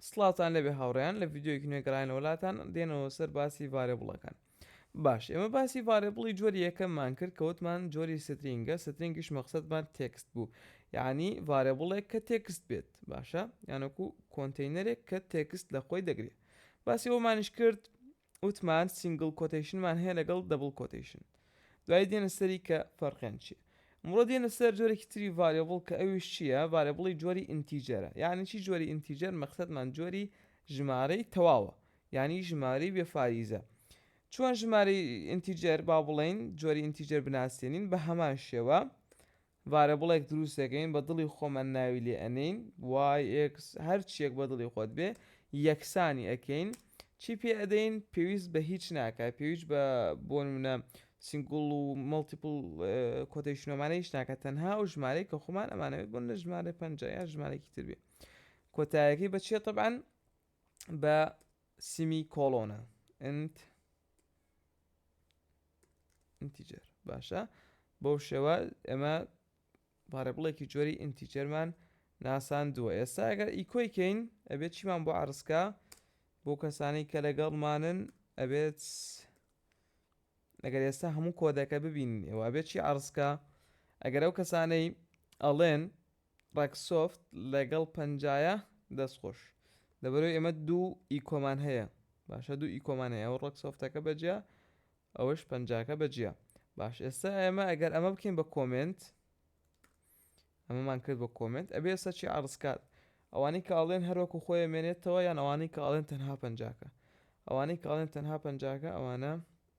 سڵاوتان لێبێ هاوڕێیان لە ڤیدیۆیەکی نوێ گەڕاینەوە لاتان دێنەوە سەر باسی ڤارێبڵەکان باش ئێمە باسی ڤارێبڵی جۆری یەکەممان کرد کە وتمان جۆری سترینگە سترینگیش مەقصدمان تێکست بوو یعنی ڤارێبڵێک کە تێکست بێت باشە یانەکو کۆنتینەرێک کە تێکست لە خۆی دەگرێت باسی ئەومانیش کرد وتمان سینگڵ کۆتەیشنمان هەیە لەگەڵ دەبڵ کۆتەیشن دوایی دێنە سەری کە فەرقیان چیە ئەمڕۆ دێنە سەر جۆرێکی تری ڤاریبڵ کە ئەویش چیە ڤاریبڵی جۆری ئینتیجەرە یانی چی جۆری ئینتیجەر مەقسەدمان جۆری ژمارەی تەواوە یانی ژمارەی بێ فاریزە چۆن ژمارەی ئینتیجەر با بڵێین جۆری ئینتیجەر بناسێنین بە هەمان شێوە ڤارێبڵێک دروست دەکەین بە دڵی خۆمان ناوی لێ ئەنێین وای ئێکس هەر چیەک بە دڵی خۆت بێ یەکسانی ئەکەین چی پێ ئەدەین پێویست بە هیچ ناکات پێویست بە بۆ نمونە سینگوڵ و مەڵتیپڵ کۆتەیشنۆمانە هیچ ناکات تەنها ئەو ژمارەی کە خۆمان ئەمانەوێت بۆ نە ژمارە پەنج یا ژمارەێکی تر بێ کۆتایەکەی بە چێ طبعاان بە سیمی کۆلۆنە ئەند ئینتیجەر باشە بەو شێوە ئێمە پارەبڵێکی جۆری ئینتیجەرمان ناساندووە ئێستا ئەگەر ئیکۆی کەین ئەبێت چیمان بۆ عرسکە بۆ کەسانی کە لەگەڵمانن ئەبێت ئەگەر ئێستا هەموو کۆدەکە ببین ئێوە بێت چی عرسکە ئەگەر ئەو کەسانەی ئەڵێن ڕەگ سۆفت ڵەگەڵ پەنجایە دەست خۆش. لەبەرەوەی ئێمە دوو ئیکۆمان هەیە باشە دوو ئیکۆمان هەیە ئەوە ڕەگ سۆفتەکە بە جیا ئەوەش پەنجاکە بە جیا باش ئێستا ئێمە ئەگەر ئەمە بکەین بە کۆمێنت ئەمەمان کرد بە کۆمێنت ئەبێ ئێستا چی عەڕز کات ئەوانەی کە ئەڵێن هەر وەکو خۆی ئەمێنێتەوە یان ئەوانەی کە ئەڵێن تەنها پەنجاکە ئەوانەی کە ئەڵێن تەنها پەنجاکە ئەوانە